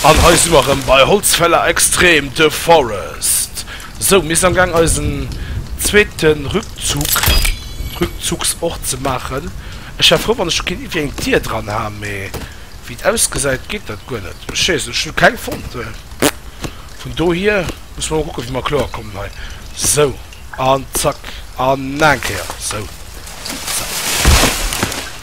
An hei si mer erëm bei Holzfäller Extrem, The Forest. Sou, mir sinn am Gaang eisen zweete Rückzug, Rückzugsort ze maachen. Ech wär frou, wann ech do kéint iergendwéi eng Dier dran ha, mee wéi et ausgesäit, geet dat guer net. Ech weess et net, ech hu keng fonnt. Vun dohier musse mer emol kucken, wéi mer kloer kommen hei. Sou, an zack, an nach eng Kéier. Sou, zack.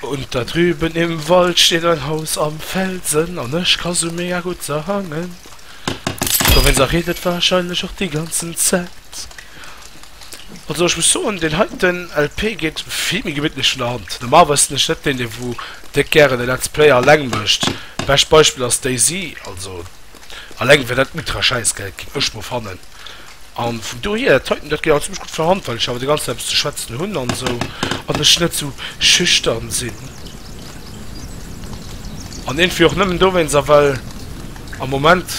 Unter drüben im Wald steht ein Haus am Felsen an ech ka sou mega gudd sangen, och wenn se redet wahrscheinlech och déi ganzen Zäit. Also ech muss soen deen heiten LP geet vill méi gemittlech vun der Hand. Normalerweis sinn ech net deen dee wou déck gären e Let's Play alleng mécht, bescht Beispill ass Daisy also. Alleng wär dat ultra Schäissgeld ginn, ech mol fannen. An vun dohier, d'Heiten, dat geet all zimmlech gutt verhand, well ech awer de ganzen Dag eppes ze schwätzen hunn an esou an ech net esou schüchtern sinn. An iergendwéi och nëmmen dowéinst a well am Moment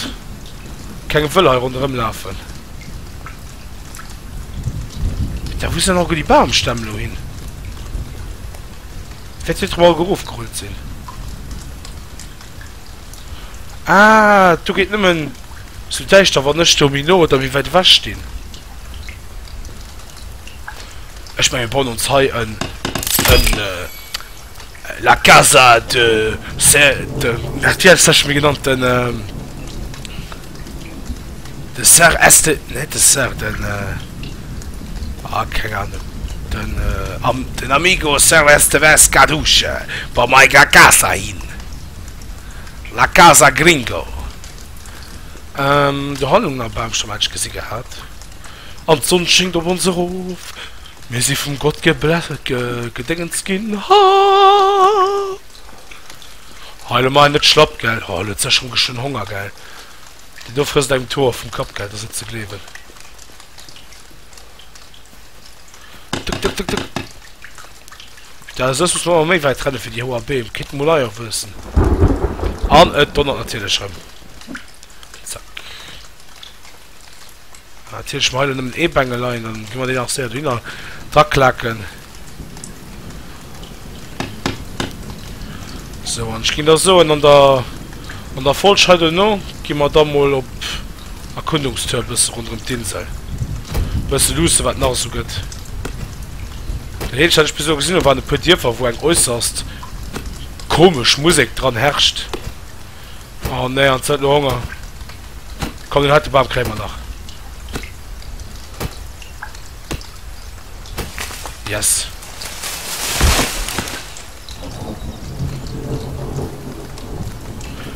keng wëll hei ronderëm lafen. Putain, wou sinn alleguer déi Bamstämm elo hin? Wäert hien trotzdem alleguer erofgerullt sinn? Ah, du geet nëmmen zu däischter, wann ech do méi no oder méi wäit ewech stinn. Ech menge bon ons hei en en äh, la casa de se de RTL sech mir genannt den äh, De Sir Este, net de Sir, den, ah, keng Ahnung, den, am, den Amigo Sir Esteves Caduce, Bon, mei ga Casa hin, La Casa Gringo. Ähm, do hannen am Baum schon manch gesi gehat. An d'Sonn schingt op ons erof, mir si vum Gott ge, ge, gedéngens gin, ha! Hei lo mei net schlapp gell. Hoo huet sech rem geschwënn Honger gell. Déi do frësst engem d'Hoer vum Kapp gell. Ass net ze gleewen. Tuk tuk tuk tuk. Putain soss muss mer awer méi wäit rennen fir déi hoer Beem. Kéint mol eier wuessen. An et donnert natierlech rem. Zack. Natierlech mer hei elo nëmmen ee Bengel leien, dann gi mer deen nach séier dohinner draklaken. Sou, an ech ginn da soen, an der an der Folg hei dono gi mer da mol op Erkundungstour e bësse ronderëm d'Insel, e bësse luusse wat nach esou gëtt. Den Heeltecht, wat ech bis elo gesinn hunn, waren e puer Dierfer, wou eng äusserst komesch Musek dran herrscht. Oh nee, an huet lo Honger. Komm den heite Bam kréie mer nach. Yes.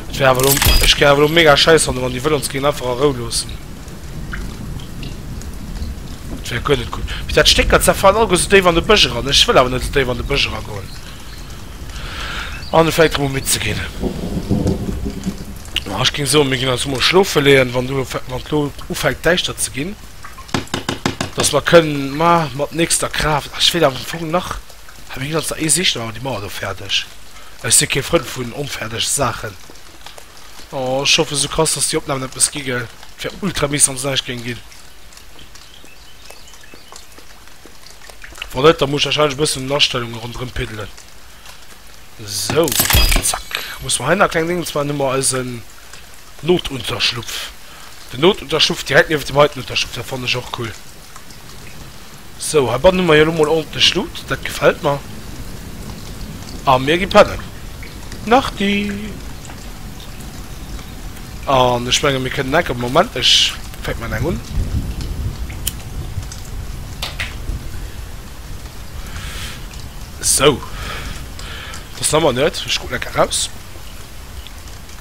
Ech wär awer lo, ech gär awer lo mega scheiß fannen, wann die wëll ons géingen einfach a Rou loossen. Dat wär guer net gutt. Mee dat Stéck dat zerfällt alleguer sou déif an de Bësch eran. Ech wëll awer net sou déif an de Bësch eragoen. an vläit erëm u midd ze ginn. Ech ging soen, mir ginn eis emol schlofe leeën, wann do wann et elo ufänkt däischter ze ginn, dass mer kënnen ma mat nächster Kraaft, ech wéilt am Fong nach, ha mir ginn eis nach ee Sicht, oh déi mauer do fäerdeg, ech si kee Frënd vun onfäerdege Saachen, oh ech hoffen sou krass, dass déi Opnamen eppes gi gell, et wär ultra mies wann se näischt géing ginn. Wann net, da muss ech wahrscheinlech e bëssen un den Astellungen ronderëm piddelen. Sou, zack. Muss mer heihinner e kleng Ding, und zwar hu mer eisen Notunterschlupf. Den Notunterschlupf direkt niewent dem heiten Unterschlupf, dat fannen ech och cool. Sou, heibannen hu mer jo elo mol ordentlech Loot, dat gefält mer. A mir gi pennen. Nachti. An ech mengen mir kënnen enker, Moment ech fänken mat engem un, sou dass en Ammann huet, ech kucken enker eraus,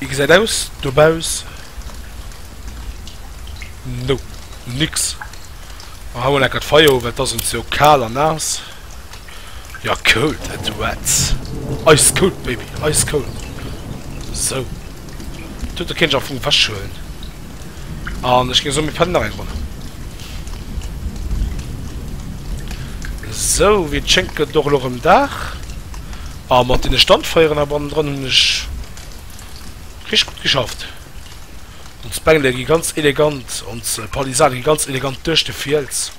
wéi gesäit aus dobaus, no nix, ma hauen enker d'Feier un, well et ass ons jo kal an naass. Ja cool Tatouage! Ice cold baby, ice cold! Sou, do huet der keen ech am Fong ewechhuelen. An ech géing soen mir pennen nach eng Ronn. Sou, wéi et schéngt gëtt et och elo rëm Dag. A mat deene Standfeieren hei bannendrënn hunn ech richteg gutt geschafft. Ons Bengele gi ganz elegant, ons Palisade gi ganz elegant duerch de Fiels.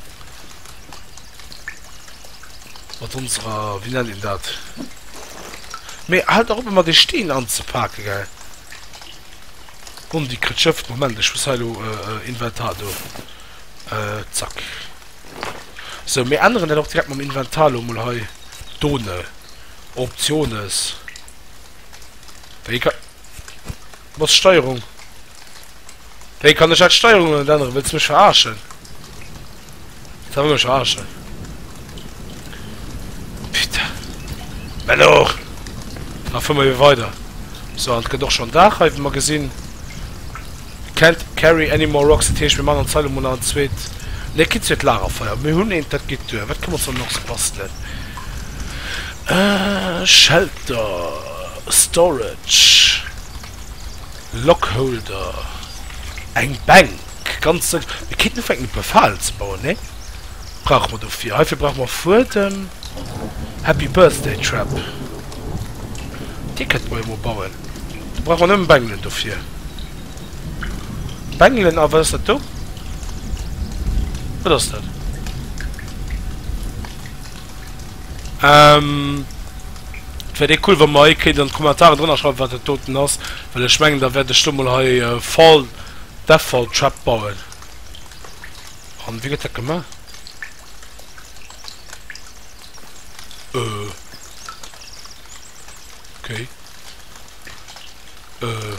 Mat onserer, wéi nennt een dat? Mee halt nach op emmer dee Steen anzepaken, gell. Bon, déi kritt Schëft. Moment, ech muss hei elo Inventar do, zack. Sou, mir änneren dat och direkt mam Inventar elo mol hei done, Optiones, wéi ka. Mat Steierung? Wéi kann ech dat Steierung net änneren? Wëlls mech verarschen? Sa wëll mech verarschen? Putain. Menno! Da fuer mer ebe weider. So, an et gëtt och schonn Dag hei, wéi mer gesinn. Can't carry any more rocks. Dat heescht, mir maachen an Zeile mol nach en zweet, nee, keen zweet Lagerfeier. Mir hunn eent, dat geet duer. Wat kënne mer ons dann nach esou bastelen? Shelter. Storage, Lockholder, eng Bänk, ganz sëll. Mir kéinten ufänken e puer Falen ze bauen, nee? Brauche mer dofir. Heifir brauche mer Fuedem. Happy Birthday Trap, dee kënnte mer jo mol bauen. Do brauche mer nëmme Bengelen dofir. Bengelen a wat ass dat do? Wat ass dat? Ähm, et wäert ee cool wann mer ee kéint an d'Kommentaren drënner schreiwen wat dat doten ass, well ech mengen da wäert ech do mol hei e Fall Deathfall Trap bauen. An wéi gëtt dat gemaach? Euh, ok. Euh,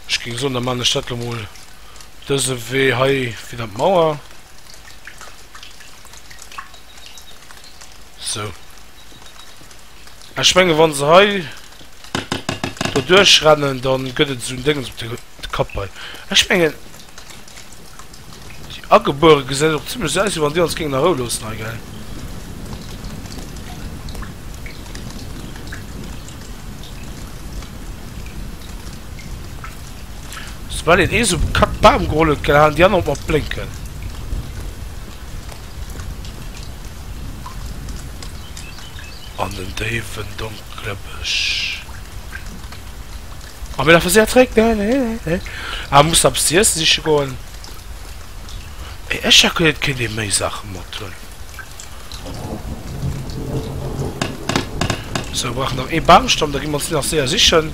ech géing soen da maan ech dat lo mol dëse Wee hei fir dann d'Mauer. So. Ech menge wann se hei do duerchrennen, dann gëtt et esou en Déngens op de Kapp hei. Ech mengen déi Agebuere gesäit och zimlech esou aus wéi wann déi ons géingen a Rou loossen hei, gell? Soubal een eesou bekackt Bam geholl huet, gell, halen déi aner op mat blénken. an den déiwen donkele Bësch. A mir lafe séier zeréck, ne? Nee, nee, nee. Ah, muss nach eppes ze iesse siche goen. Mee ech hätt geduet, et kéint ee méi Saache mat hunn. Sou, brauch nach ee Bamstamm, da gi mer ons deen nach séier sichen.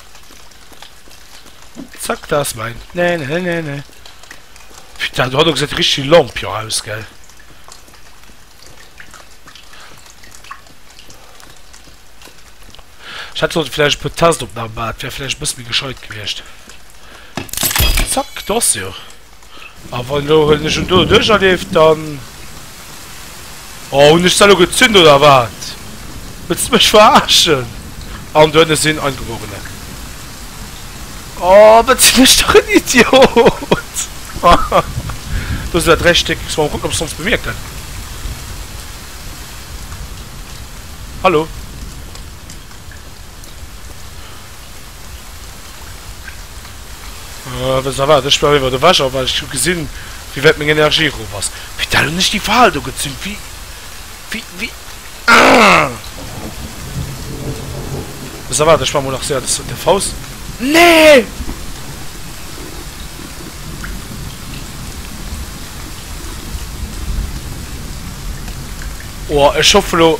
Zack, da ass mäin. Nee, nee, nee, nee. Putain, du hat och gesat, richteg Lampion aus, gell? Ich hätte sollte vielleicht per Testopnahme machen, wäre vielleicht ein bisschen gescheit gewiescht. Zack, das ja. A wann elo hunn ech en do duercherlieft, dann. Oh, hunn ech se elo gezünt oder wat? Wëlls de mech verarschen? An du ënne sinn Eingeborene. Oh, wat sinn ech dach en Idiot! Do sinn der dräi Stéck. Muss mol kucken, ob se ons bemierken. Hallo? Wëss der wat, ech bleiwen iwwert ewech a well ech hu gesinn wéi wäit meng Energie erof ass. Putain hunn ech déi Fal do gezünnt wéi wéi ahh. Wëss der wat, ech maachen mol nach séier de Saut der Faust nee. Oh ech hoffe lo.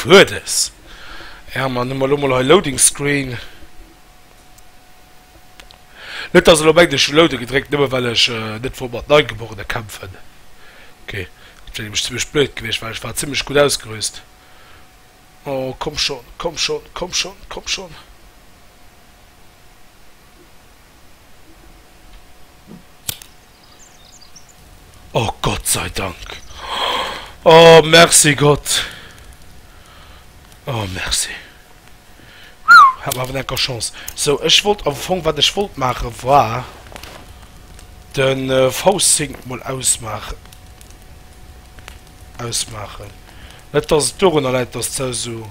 Fuedes! Jo, mä dann hu mer elo mol hei Loading Screen. Net dass elo mengt ech hu Loaden gedréckt nëmme well ech net wollt mat Neigeborene kämpfen. Ok, dat wär nämlech zimmlech blöd gewiescht well ech war zimmlech gutt ausgerüst. Oh komm schonn, komm schonn, komm schonn, komm schonn! Oh Gott sei Dank! Oh merci Gott! Oh merci! Hat mer awer enker Chance. Sou ech wollt am Fong, wat ech wollt maache war de V-Sync mol ausmaachen. Ausmaachen. Net dass et dorunner läit dass d'Sau sou.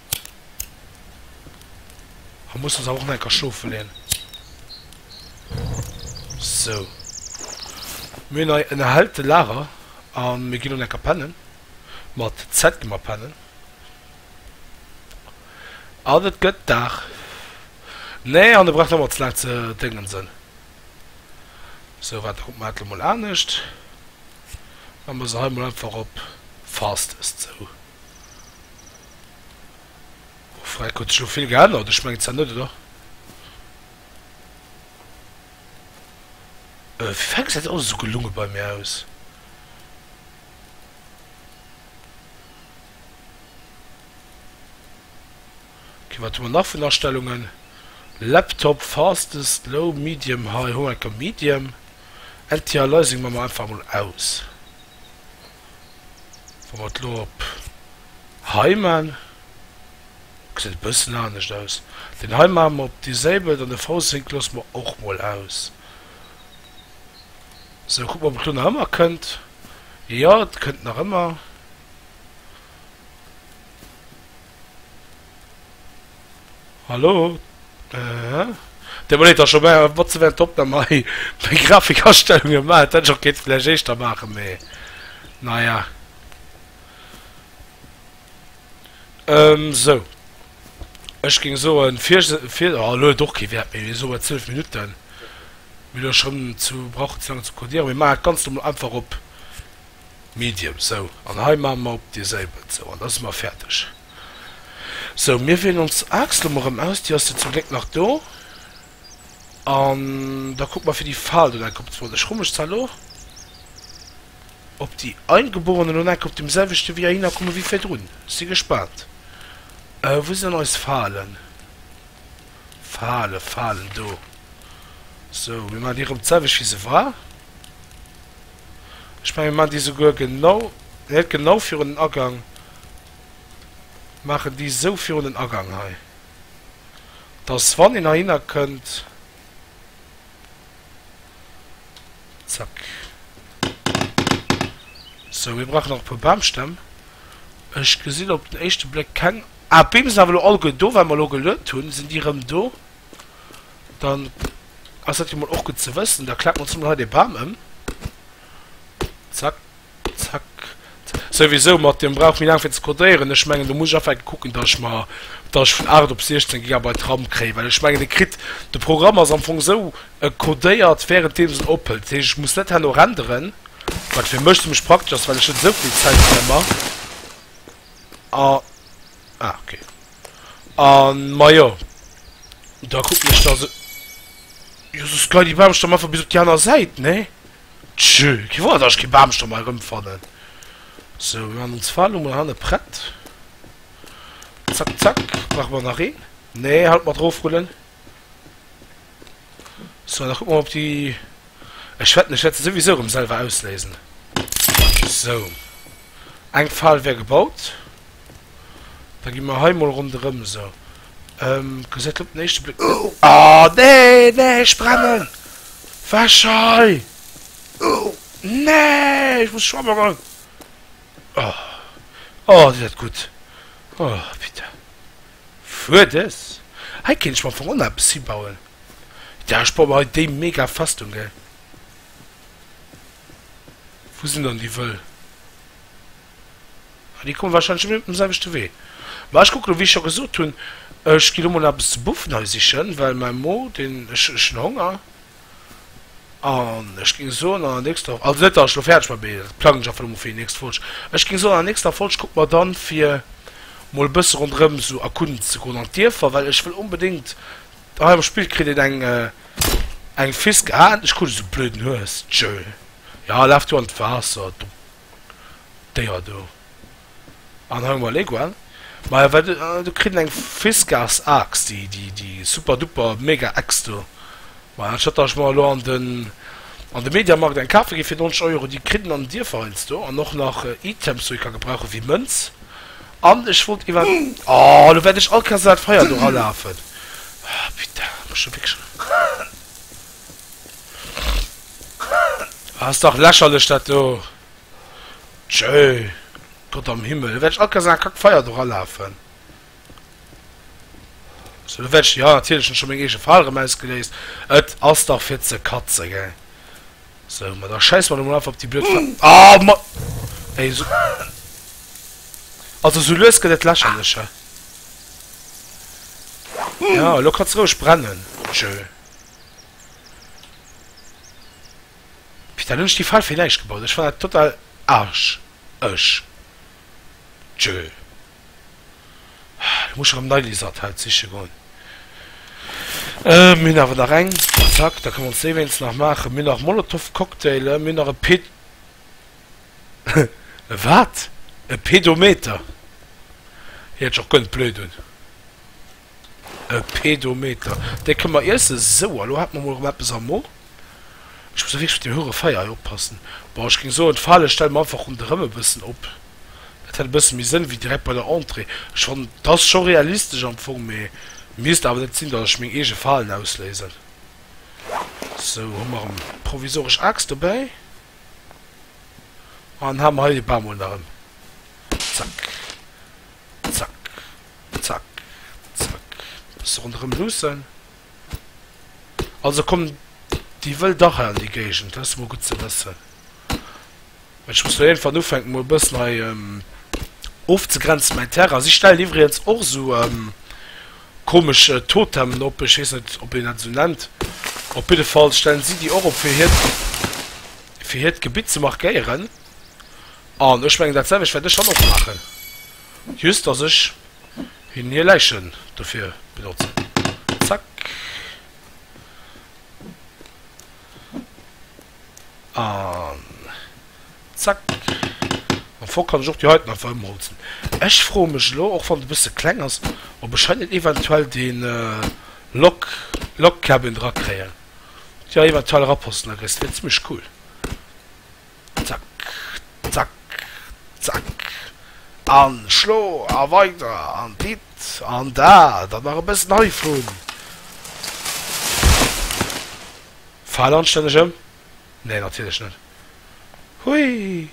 A muss uns awer och nach enker schlofe leeën. Sou. Mir hunn hei en erhellte Lager a mir ginn elo enker pennen. Mat Z gi mer pennen. An et gëtt Dag. Nee, an e brauch net méi ze laang ze déngensen. Sou, waarde kucke mer dat elo mol anescht. Mä mer se hei mol einfach op Fastest. Sou. Freck, huet sech elo vill geännert? Ech mengen zwar net, oder? Äh, fir Fang gesäit alles esou gelunge bei mir aus. Ok, wat hu mer nach vun Astellungen? Laptop, Fastest, Low, Medium, High, hu mer enker Medium. Anti-Aliasing man mer einfach mol aus. Wa mer et elo op hei man, gesäit e bëssen anescht aus, deen hei maache mer op déi selwert an de Faussegg loosse mer och mol aus. Sou, kucke mer ob et elo nach ëmmer kënnt, jo et kënnt nach ëmmer. Hallo? Äh, den Monet ass scho bäi, wat ze während der Opnahm hei meng Grafikastellungen maach, et hätt ech och kéinten vläicht éischter maachen, mee naja. Ehm, sou, ech géing soen, fir ech, fir, oh, elo huet och kee Wäert méi, soe mer 12 Minutten, mir elo schonn zu, brauchen ze laang ze codieren, mir maachen d'Ganzt emol einfach op. Medium, sou, an hei maache mer op déi Séibel, sou, an da si mer fäerdeg. Sou, mir wéien ons Axt elo mol erëm aus, déi ass jo zum Gléck nach do, an da kucke mer fir déi Fal dunn eng Kéier op d'Wand. Ech hu mech zwar elo op déi Eingeborenen elo nach eng Kéier op deem selwechte Wee erhinner komme wéi virdrun. Ech si gespaant. Äh, wou sinn dann eis Falen? Falen, Falen, do. Sou, mir maachen déi erëm d'selwecht wéi se war. Ech mengen mir maachen déi souguer genau, net genau virun den Agang, maachen déi esou virun den Agang hei, dass wann een heihinner kënnt, zack. Sou, mir brauchen nach e puer Bamstämm. Ech gesinn op den éischte Bléck keng, ah d'Beem sinn awer elo alleguer do, well mer elo geluet hunn sinn déi erëm do. Dann ass dat jo mol och gutt ze wëssen. Da klappen ons mol hei dee Bam ëm. Zack, zack, zack. Souwisou, mat deem brauch méi laang fir ze codéieren. Ech mengen, do muss ech affe kucken, datt ech mer, datt ech vun 8 op 16 Gigabyte Ram kréien. Well ech mengen, e kritt, de Programm ass am Fong esou, e codéiert wärenddeems en ophëlt. Dat heescht, ech muss net herno renderen, wat fir mech zimmlech praktesch ass, well ech net esou vill Zäit op emmer. A. Ah, ok. An, majo. Da kucken ech da se... Jo, soss geien déi Baamstamm einfach bis op déi aner Säit, nee? Tjö, kee Wonner, dass ech kee Baamstamm hei erëmfannen. Sou, mir maachen ons Falen emol hanne prett. Zack, zack. Brauche mer nach een? Nee, haut mat rofrullen. So, da kucke mer op déi. Ech wetten, ech wäert se souwisou erëm selwer ausléisen. Sou. Eng Fal wär gebaut. Da gi mer hei mol ronderëm sou. Gesäit op den éischte Bléck. Oh nee, nee, ech brennen! Wech hei! Nee, ech muss schwamme goen! Oh, oh, déi dat gutt! Oh, Pite! Wuar dës? Hei kéint ech mer vrun eppes hibauen. Dach ech baue mer hei déi mega Festung gell. Wou sinn dann déi wëll? Ah déi komme wahrscheinlech ëmmer op dem selwechte Wee. Ma ech kucken lo, wéi ech scho gesot hunn, ech gi lo mol nach eppes ze buffen hei sichen, well mäi Mo deen, ech hunn Honger. An ech géing soen, an der nächster, also net datt ech elo fäerdeg war, mee dat plangen ech einfach emol fir déi nächst Folg, ech géing soen an der nächster Folg kucke mer dann, fir mol e bësse ronderëm esou erkunden ze goen an d'Dierfer, well ech wëll onbedéngt, hei am Spill kritt een eng eng Fisk, ah endlech krut ech esou blöden Hues, tschö, ja, laf du an d'Waasser, du. Déier do. An hei hu mer Leguan. Maja wat do do kritt en eng Fiskars Axt, déi déi déi super duper mega Axt do. Maja anstatt datt ech mer elo an den an de Mediamarkt eng kafe gi fir 90 Euro, déi kritt en an den Dierfer heiansdo an och nach Items wou ee ka gebrauchen wéi Mënz an ech wollt iwwer oh elo wäert ech all Kéiers iwwer dat Feier do eralafen oh putain muss ech elo wierklech. Ah, ass dach lächerlech dat do. Tjeu, Gott am Himmel, lo wäert ech akasinn a kack Feier do ralafen. So, lo wäert ech, jo, natierlech hunn ech scho meng eege Fal erëm ausgeléist. Et ass dach fir ze katzen, gell. So, ma da schäisse mer lo mol einfach op déi blöd Fal. Ah, ma. Ey, so. Also, sou lues gëtt et lächerlech hei. Ja, lo ka se roueg brennen. Tjeu. Putain hun ech déi Pfeif fir näischt gebaut, ech fannen dat total arsch ech tjö lo muss ech erem nei Lisert halt siche goen mir hun awer nach eng zack da kënne mer ons déi wéinstens nach machen mir hun nach Molotov Cocktaile mir hun nach e Ped e wat e Pedometer hie hett ech och gönnt blöd un. E Pedometer, dee kënne mer iessen. Sou, a lo hat mer mol erëm eppes am Mo. Ech muss wierklech op dee hure Feier hei oppassen. Bon, ech géing soen, d'Fale stelle mer einfach ronderëm e bëssen op. Dat hätt e bësse méi Sënn wéi direkt bei der Entrée. Ech fannen, 't ass scho realistesch am Fong, mee misst awer net sinn, datt ech meng eege Falen ausléisen. Sou, hu mer erëm provisoresch Aaxt dobäi. An ha mer hei de Bamol nach erëm. Zack. Zack, zack, zack. Bësse ronderëm luussen. Also kommen déi wëll dach hei an déi Géigend, dat ass mol gutt ze wëssen. Mä ech muss lo iergendwann ufänken, mol e bëssen hei ofzegrenzen, mäin Terrain. Si stellen iwwregens och esou komesch Totemen op, ech weess net, ob een dat esou nennt. Op jidde Fall stellen si déi och op, fir hiert, fir hiert Gebitt ze markéieren. An ech mengen dat selwecht wäert ech dann och maachen, just dass ech hinnen hir Läichen dofir benotzen. Zack. An zack. Mam Fock kann ech och déi heiten einfach ëmholzen. Ech froe mech elo, och wann et e bësse kleng ass, ob ech hei net eventuell dee Log Log Cabin drakréien. Jo, eventuell eraposten, da kriss de deen. Zimmlech cool. Zack, zack, zack, an schlo a weider an dit an dat an nach e bëssen heivun. Fal anstänneg ëm? Nee, natierlech net. Hui!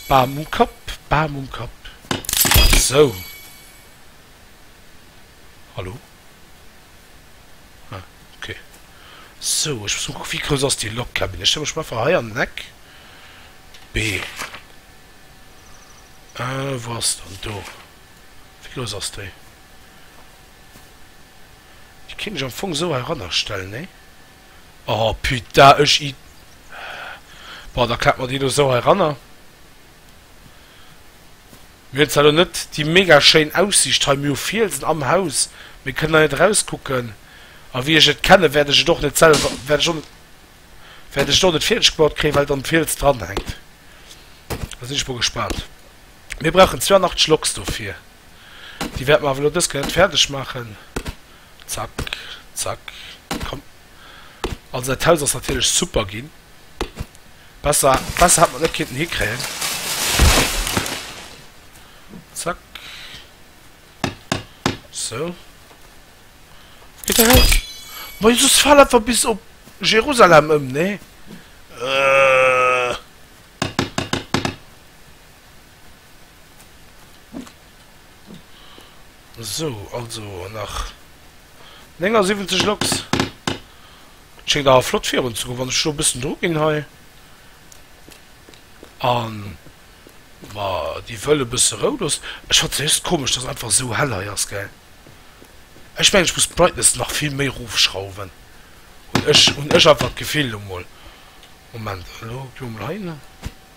Bam um Kapp, bam um Kapp. Sou. Hallo? Ah, okay. So, ech muss kucken, wéi grouss ass déi Logkabin. Ech stelle mech mol einfach hei an den Eck. B. Äh, wou ass se dann? Do. Wéi grouss ass déi? Déi kéint ech am Fong esou herannerstellen, nee? Oh, putain, ech Id. Bon, da klappe mer déi elo esou heiranner. Mir hunn zwar elo net déi mega schéin Aussiicht hei, mir hu Fielsen am Haus, mee kënnen da net erauskucken? A wéi ech et kenne wäert ech et och net selwer, wäert ech och net, wäert ech et och net fäerdeg gebaut kréien, well et an de Fiels dranhänkt. Da sinn ech mol gespaant. Mir brauchen 82 Loks dofir. Déi wäerte mer awer elo dës Kéier net fäerdeg maachen. Zack, zack, komm. Also dat Haus ass natierlech super ginn. Besser, besser hat mer net kinnten hikréien. Zack. So. Geht da raus. Moi, Jesus fall einfach bis op Jerusalem ëm, ne? Äh. So, also nach 79 Loks. Schéngt awer flott virun ze goen, wann ech elo e bëssen Druck ginn hei. An ma déi wëll e bësse Rou loossen. Ech fannt se just komesch, dass einfach esou hell hei ass, gell. Ech mengen, ech muss d'Brightness nach vill méi rofschrauwen, hunn ech einfach d'Gefill elo mol. Moment, elo gi mer mol heihinner.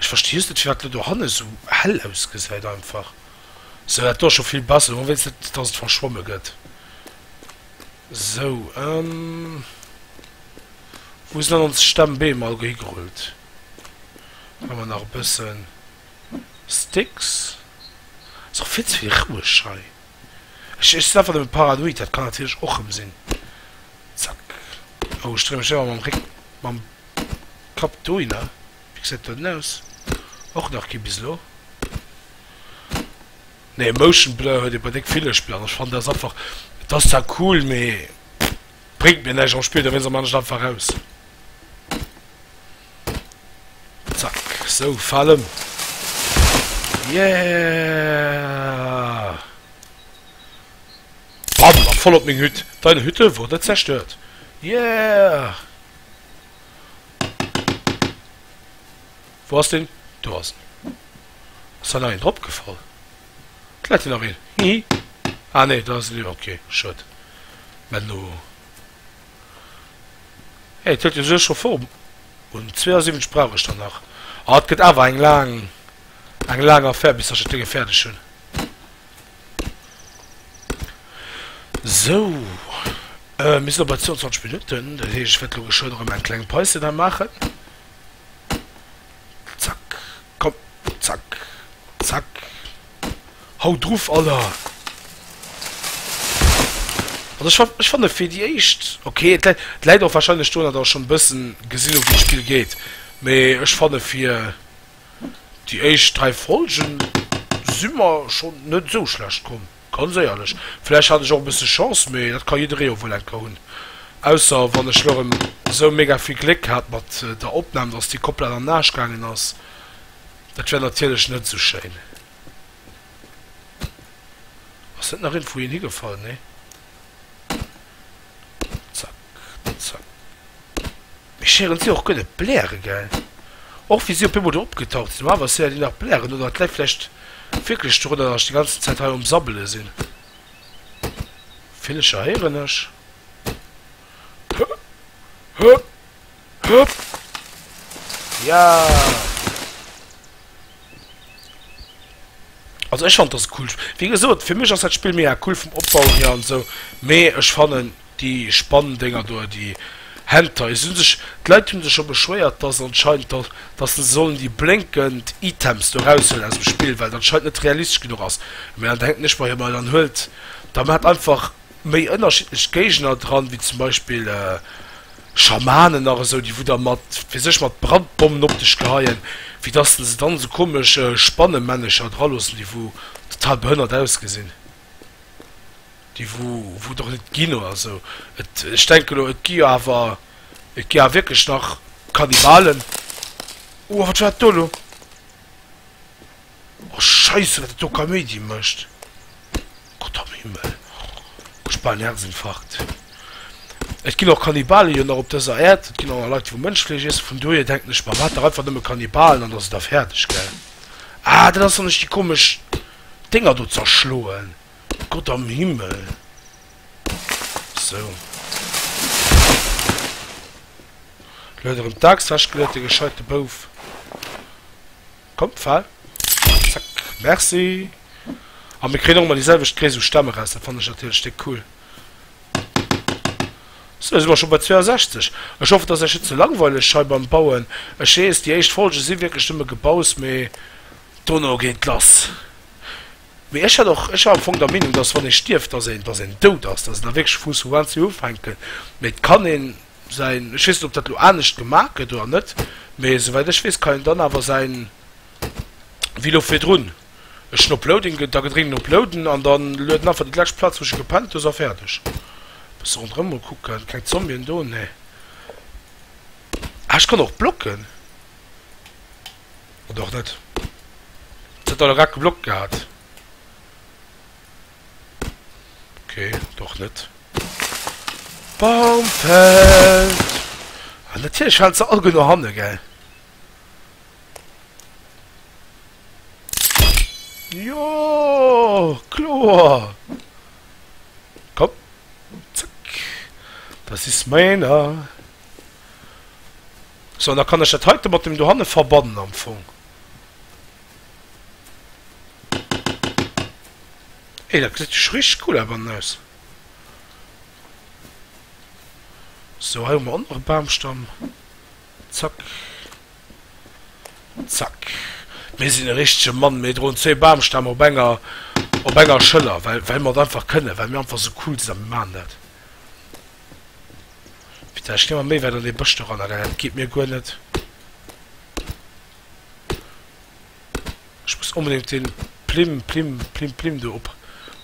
Ech versti just net firwat dat dohanne sou hell ausgesäit einfach sou, dat do ass scho vill besser, hoffen wéinst net dass et verschwomme gëtt sou, ëhm wou sinn dann ons Stemmbeem all higerullt, hu mer nach e bëssen Sticks, ass och vill ze vill roueg hei, ech ech sinn einfach nëmme paranoid, dat kann natierlech och rëm sinn, zack, oh ech dréi mech ëmmer mam Réck mam. Kap d'Oina, wéi gesäit do hinne aus? Och nach kee bis elo? Nee, Motion Blur huet ee bei déck Villech Blur. Ech fannen dat einfach, et ass zwar cool, mee bréngt mir näischt am Spill, da wéinst am anescht einfach aus. Zack, sou, fal ëm. Yeah! Bam, a voll op meng Hütt. Deine Hütte wurde zerstört. Yeah! Wou ass deen? Do ass en. Ass der nach een drop gefall? Vläit deen Ariel? Hihi Ah nee, do ass en iwwer. Ok, schued. Mä elo, hé, et huet jo souguer scho Form. Un 72 brauch ech der nach. Ah, et gëtt awer eng laang, eng laang Affaire, bis ech dat Ding fäerdeg hunn. Sou, mir sinn elo bei 22 Minutten, dat heescht, ech wäert elo geschwënn erëm eng kleng Päuschen hei maachen. Zack, komm, zack, zack. Haut druff, Alter! Also ech fannen, ech fannen fir déi éischt ok. Et läit, et läit och warscheinlech doran, datt ech schonn e bëssen gesinn hu wéi d'Spill geet, mee ech fanne fir. Déi éischt 3 Folgen si mer schonn net esou schlecht komm, ganz éierlech. Vläicht hat ech och e bësse Chance, mee dat ka jidderee jo wuel enker hunn. Ausser wann ech lo rëm esou mega vill Gléck hat mat der Opnam, dass déi komplett an den Aasch gaangen ass. Dat wär natierlech net esou schéin. Ass net nach iergendwou een higefall? Nee. Zap. Spëtzen. Mir schéiren si och guer net bläre gell? Och wéi si op eemol do opgetaucht sinn. Normalerweis si der déi nach blären oder et läit vläicht wierklech dorunner dass ech déi ganzen Zäit hei um Sabbele sinn. Villecher héieren ech. Ja! Also ech fannen et ass e coolt Sp. Wéi gesot fir mech ass dat Spill mega cool vum Opbau hier an esou mee ech fannen Déi spannen Dénger do an déi Henter. Et hun sech d'Leit hun sech scho beschwéiert dass anscheinend dass se sollen déi blénkend Items do raushuelen aus dem Spill well et anscheinend net realistesch genuch ass. Mee an denkt nech bei hir, ma dann huelt da maacht einfach méi ënnerschiddlech Géigner dran wéi zum Beispill Schamanen nach esou déi wou da mat fir sech mat Brandbommen op dech geheien wéi dass de se dann esou komesch Spannemännecher dra loossen déi wou total behënnert ausgesinn. déi wou et och net ginn oder sou, et, ech denke elo, et gi jo awer, et gi awer wierklech nach Kannibalen. Oh, a wat war dat do elo? Oh Scheisse, wat et do Kaméidi mécht! Gott am Himmel, ech hu bal en Herzinfarkt. Et ginn och Kannibalen jo nach op dëser Äerd, et ginn och nach Leit, déi wou Mënschfleesch iessen, vun dohier denken ech mer, wat dach einfach nëmme Kannibalen, an da si der fäerdeg, gell? Ah, dat ass, wann ech déi komesch Dénger do zerschloen. Gott am Himmel. Sou. Lo huet erëm d'Axt wechgeluet, de gescheite Bouf. Kommt, fal. Zack. Merci. A mir kréien och emmer déi selwecht Gréisst u Stämm eraus. Dat fannen ech natierlech déck cool. Sou, si mer scho bei 62. Ech hoffen, et ass iech net ze langweileg hei beim Bauen. Ech weess, déi éischt Folge si wierklech nëmme Gebaus, mee dono geet lass. Mee ech hätt och, ech war am Fong der Meenung, dass wann ee stierft, dass een, dass een dout ass, dass een da wierklech muss vu Uanzéng ufänken. Mee et kann ee säin, ech weess net, ob dat elo anescht gemaach gëtt oder net, mee esouwäit ech weess, kann een dann awer säin wéi elo virdrun, ech hunn op Loading ge, da gedrénkt op Loaden an da luet en einfach déi lescht Plaz, wou ech gepennt hu, ass a fäerdeg. E bësse ronderëm mol kucken, keng Zombien do, nee. Ah, ech kann och blocken. Oder och net. Et huet all Rack geblockt gehat. Ok, oder och net. Baum fällt! An natierlech falen se all guer no hanne, gell? Jo, kloer! Komm, zack! Das ist meiner! Sou, an da kann ech dat heite mat deem dohanne verbannen am Fong. Ey, dat gesäit jo scho richteg cool awer an aus. Sou, hei hu mer och nach e Bamstamm. Zack. Zack. Mir sinn e richtege Mann. Mir droen zwee Bamstämm op enger, op enger Schëller, well, well mer et einfach kënnen, well mir einfach sou cool sinn a mir maachen dat. Putain, ech ginn ëmmer méi wäit an dee Bësch do ran, Alter, dat geet mir guer net. Ech muss onbedéngt dee Plim, Plim, Plim, Plim do op,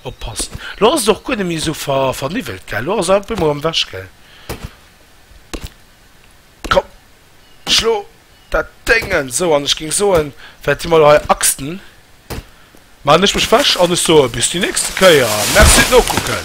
oppassen. Lo ass et och guer net méi esou ver, verniwwelt, gell? Lo ass et op eemol am Wech, gell? Komm, schlo dat Déngen! Sou, an ech géing soen, Wäert Dir mol hei axten. Maachen ech mech wech an ech soe bis déi nächste Kéier. Merci d'Nokucken!